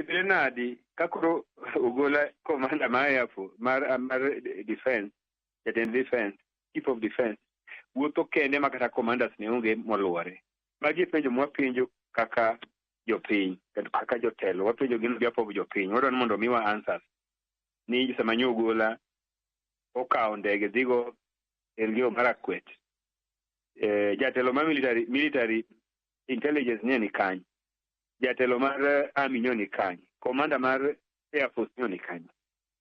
Bedre nadi ka koro ogola komanda ma Air Force mar mar defense, jatend defense, chief of defense wuotho kende ma kata commanders ne onge moluore. Magi penjo mwa penjo kaka jopiny kendo kaka jotelo wapenjo gin biapob jopiny wadwani mondo omiwa answers ni sama nyo ogola okawo ndege dhigo Elgeyo Marakwet eh, jatelo ma military, military intelligence ne ni kany jatelo mar eh, army nyo ni kanye komanda mar air force nyo ni kanye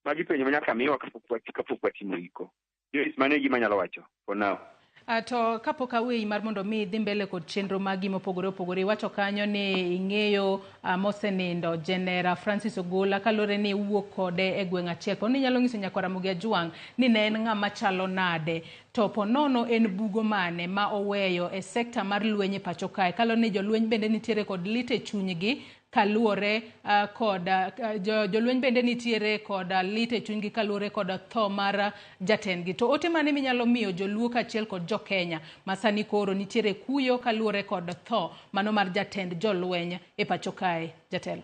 magi penjo manyaka miwa kapok wat- kapok watimo iko jois mano e gima anyalo wacho for now Ah, to kapok aweyi mar mondo mi idhi mbele kod chenro magi mopogore opogore iwacho kanyo ni ing'eyo ah, mosenindo jenera francis ogola kaluwore ni iwuok kode e gweng' achiel po ni inyalo nyiso nyakwara mugi ajwang' ni ne en ng'ama chalo nade To po nono en bugo mane ma oweyo e sekta mar lweny e pacho kae kalo ni jolweny bende nitiere kod lit e chunygi kaluwore uh, kod uh, jo, jolweny bende nitiere kod uh, lit e chunygi kaluwore kod uh, tho mar uh, jatendgi to ote mane minyalo miyo joluo kaachiel kod jokenya masani koro nitiere kuyo kaluwore kod tho mano mar jatend jolweny e pacho kae jatelo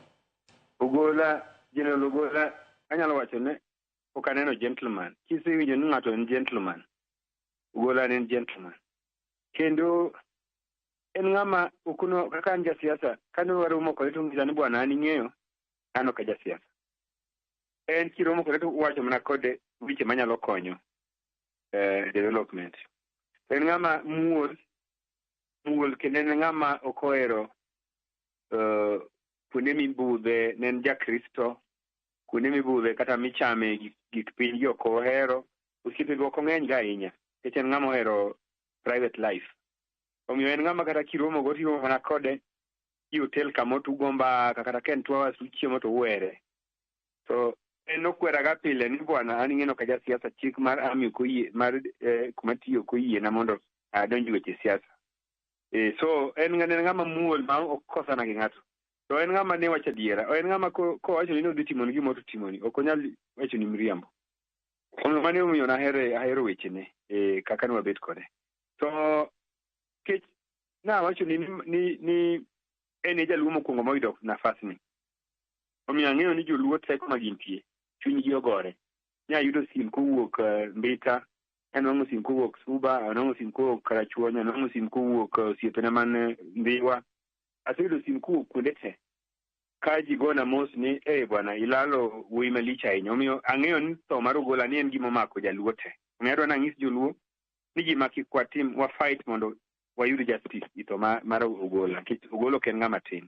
ogola general ogola anyalo wacho ne pok aneno gentleman kisewinjo ni ng'ato en gentleman gola en gentleman kendo en ng'ama okuno kaka an jasiasa kane waromo kode to ngisa ni bwana an ing'eyo an ok jasiasa en kiromo kode to wacho mana kode weche manyalo konyo eh, development en ng'ama muol muol kendo en ng'ama ok ohero eh, kuonde mibudhe ne en jakristo kuonde mibudhe kata michame gik, gik piny gi ok ohero. Osiepe be ok ong'eny ga ahinya, nikech en ng'ama ohero private life. Omiyo en ng'ama kata kiromo go tiromo mana kode i hotel kama otugo mbaka kata ka en two hours uchiemo to uwere. So en okweraga pile ni bwana an ing'eno ka jasiasa chik mar ami ok oyie mar eh, kuma tiyo ok oyiena mondo adonj weche siasa. Eh, so en ng'ama en ng'ama muol ma ok kosana gi ng'ato. to en ng'ama ne wacho adiera en ng'ama ko- kowachoni ni odhi timoni gima to timoni ok onyal wachoni miriambo omiyo mane omiyo nahere ahero wechene eh, kaka ne wabet kode to kech nawachoni ni, ni, ni en e jaluo mokwongo moyudo nafasni omiyo ang'eyo ni joluo teko ma gintie chunygi ogore nyayudo sim kowuok eh, mbita anwang'o sim kowuok suba anwang'o sim kowuok karachuonyo anwang'o sim kowuok eh, osiepena man eh, ndhiwa aseyudo sim kowuok kuonde te ka ji gona mos ni e hey, bwana ilalo wuoyi malich ahinya omiyo ang'eyo ni tho mar ogola ni en gima omako jaluo te omiyo adwa nang'is joluo ni ji makik kwatim wa fight mondo wayud justice i tho mar ogola nikech ogola ok en ng'ama tin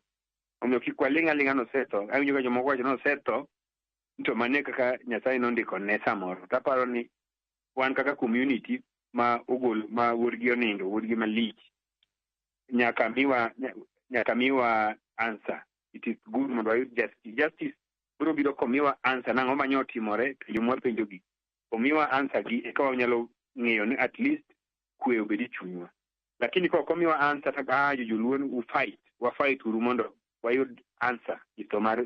omiyo kik waling' aling'a nosetho awinjo ka jomoko wacho nosetho to mane kaka nyasaye nondiko ne samoro taparo ni wan kaka community ma ogol ma wuodgi onindo wuodgi malich nyaka miwa nyaka miwa answer it is good mondo wayud justice justice biro biro komiwa answer nang'o manye otimore penjo mwapenjo gi omiwa answer gi eka wanyalo ng'eyo ni at least kwe obed e chunywa lakini ka ok omiwa answer to ah joluo u fight wa fight uru mondo wayud answer e tho mar